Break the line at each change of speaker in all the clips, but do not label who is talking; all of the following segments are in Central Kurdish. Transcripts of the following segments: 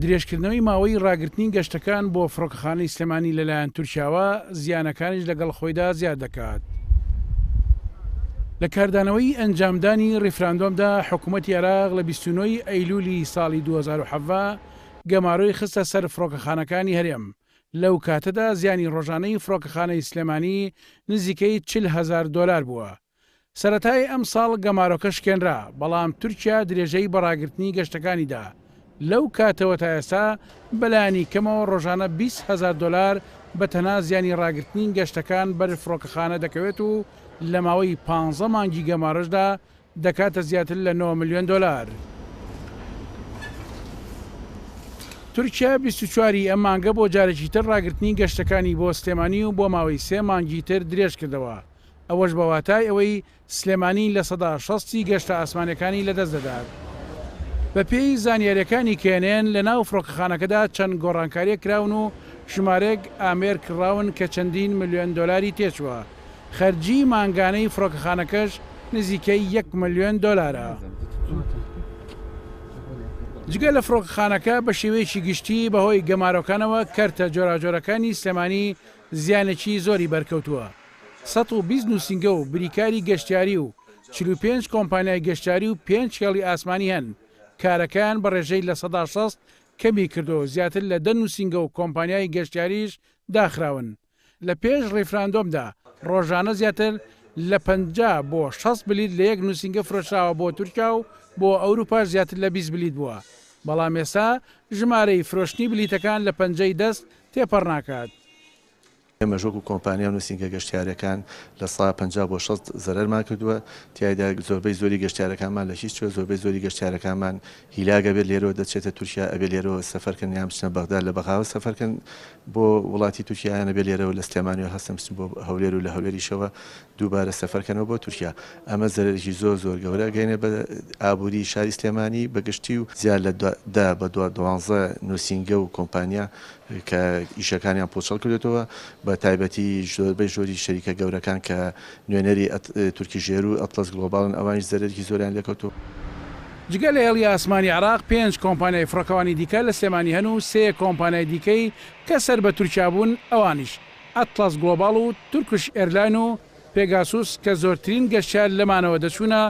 درێژکردنەوەی ماوەی ڕاگرتنی گەشتەکان بۆ فڕۆکەخانەی سلێمانی لەلایەن تورکیاوە زیانەکانیش لەگەڵ خۆیدا زیاد دەکات. لە کاردانەوەی ئەنجامدانی ڕیفراندۆمدا حکوومەتی عێراق لە 29 ئەیلولی ساڵی 2017 گەمارۆی خستە سەر فڕۆکەخانەکانی هەرێم، لەو کاتەدا زیانی ڕۆژانەی فڕۆکەخانەی سلێمانی نزیکەی چل هەزار دۆلار بووە. سەرەتای ئەمساڵ گەمارۆکە شکێنرا، بەڵام تورکیا درێژەی بە ڕاگرتنی گەشتەکانی دا، لەو کاتەوە تا ئێستا بە لانی کەمەوە ڕۆژانە بیست هەزار دۆلار بە تەنها زیانی ڕاگرتنی گەشتەکان بەر فڕۆکەخانە دەکەوێت و لە ماوەی پانزە مانگی گەمارۆشدا دەکاتە زیاتر لە نۆ ملیۆن دۆلار. تورکیا بیست و چوار ی ئەم مانگە بۆ جارێکی تر ڕاگرتنی گەشتەکانی بۆ سلێمانی و بۆ ماوەی سێ مانگی تر درێژکردەوە، ئەوەش بە واتای ئەوەی سلێمانی لە سەدا شەست ی گەشتە ئاسمانیەکانی لە دەست دەدات. بە پێی زانیاریەکانی کێنێن لە ناو فڕۆکەخانەکەدا چەند گۆڕانکاریەک کراون و ژمارەیەک ئامێر کڕاون کە چەندین ملیۆن دۆلاری تێچووە. خەرجی مانگانەی فڕۆکەخانەکەش نزیکەی یەک ملیۆن دۆلارە. جگە لە فڕۆکەخانەکە بە شێوەیەکی گشتی بە هۆی گەمارۆکانەوە کەرتە جۆراوجۆرەکانی سلێمانی زیانێکی زۆری بەرکەوتووە، سەد و بیست نووسینگە و بریکاری گەشتیاری و چل و پێنج کۆمپانیای گەشتیاری و پێنج هێڵی ئاسمانی هەن، کارەکەیان بە ڕێژەی لە سەدا شەست کەمی کردووە و زیاتر لە دە نووسینگە و کۆمپانیای گەشتیاریش داخراون. لە پێش ڕیفراندۆمدا ڕۆژانە زیاتر لە پەنجا بۆ شەست بلیت لە یەک نووسینگە فرۆشراوە بۆ تورکیا و بۆ ئەوروپاش زیاتر لە بیست بلیت بووە، بەڵام ئێستا ژمارەی فرۆشتنی بلیتەکان لە پەنجەی دەست تێپەڕ ناکات. ئێمەش
وەکو کۆمپانیا و نووسینگە گەشتیارییەکان لە سەدا پەنجا بۆ شەست زەرەرمان کردووە، تیایدا زۆربەی زۆری گەشتیارەکانمان لە هیچ کوێ، زۆربەی زۆری گەشتیارەکانمان هیلاک ئەبێت لێرەوە دەچێتە تورکیا ئەبێت لێرەوە سەفەر کەن یان بچنە بەغدا لە بەغاوە سەفەر کەن بۆ وڵاتی تورکیا یان ئەبێت لێرەوە لە سلێمانیەوە هەستن بچن بۆ هەولێر و لە هەولێریشەوە دووبارە سەفەر کەنەوە بۆ تورکیا ئەمە زەرەرێکی زۆر زۆر گەورە ئەگەینێ بە ئابووری شاری سلێمانی بە گشتی و زیاد لە دە بە دوا دوانزە نووسینگە و کۆمپانیا کە ئیشەکانیان پوچەڵ کردێتەوە بە تایبەتی ژۆربەی ژۆری شەریکە گەورەکان کە نوێنەری تورکی ژێرو ئەتڵەس گڵۆباڵن ئەوانیش زەرەرێکی زۆریان لێکەوتوە. جگە
لە هێڵی ئاسمانی عێراق پێنج کۆمپانیای فڕۆکەوانی دیکە لە سلێمانی هەن و سێ کۆمپانیای دیکەی کە سەر بە تورکیا بوون ئەوانیش ئەتڵەس گڵۆباڵ و تورکش ئێرلاین و پێگاسوس کە زۆرترین گەشتیار لەمانەوە دەچوونە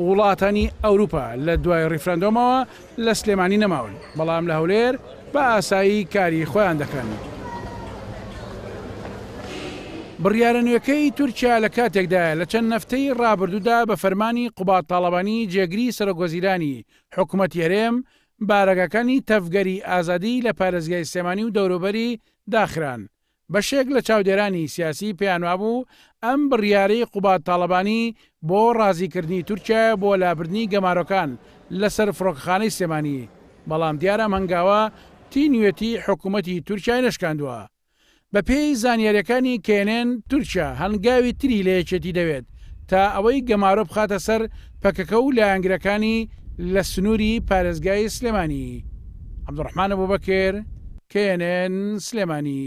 وڵاتانی ئەوروپا لە دوای ڕیفراندۆمەوە لە سلێمانی نەماون بەڵام لە هەولێر بە ئاسایی کاری خۆیان دەکەن. بڕیارە نوێکەی تورکیا لە کاتێکدایە لە چەند نەفتەی ڕابردوودا بە فەرمانی قوباد تاڵەبانی جێگری سەرۆکوەزیرانی حکومەتی هەرێم بارەگاکانی تەڤگەری ئازادی لە پارێزگای سلێمانی و دەوروبەری داخران. بەشێک لە چاودێرانی سیاسی پێیانوابوو ئەم بڕیارەی قوباد تاڵەبانی بۆ ڕازیکردنی تورکیایە بۆ لابردنی گەمارۆکان لەسەر فڕۆکەخانەی سلێمانی، بەڵام دیارە ئەم هەنگاوە تینوێتی حکومەتی تورکیای نەشکاندووە. بەپێی زانیارییەکانی کەێنێن، تورکیا هەنگاوی تری لە یەکێتی دەوێت تا ئەوەی گەمارۆ بخاتە سەر پەکەکە و لایەنگرەکانی لە سنووری پارێزگای سلێمانی. عەبدولڕەحمان ئەبوبەکر، knn، سلێمانی.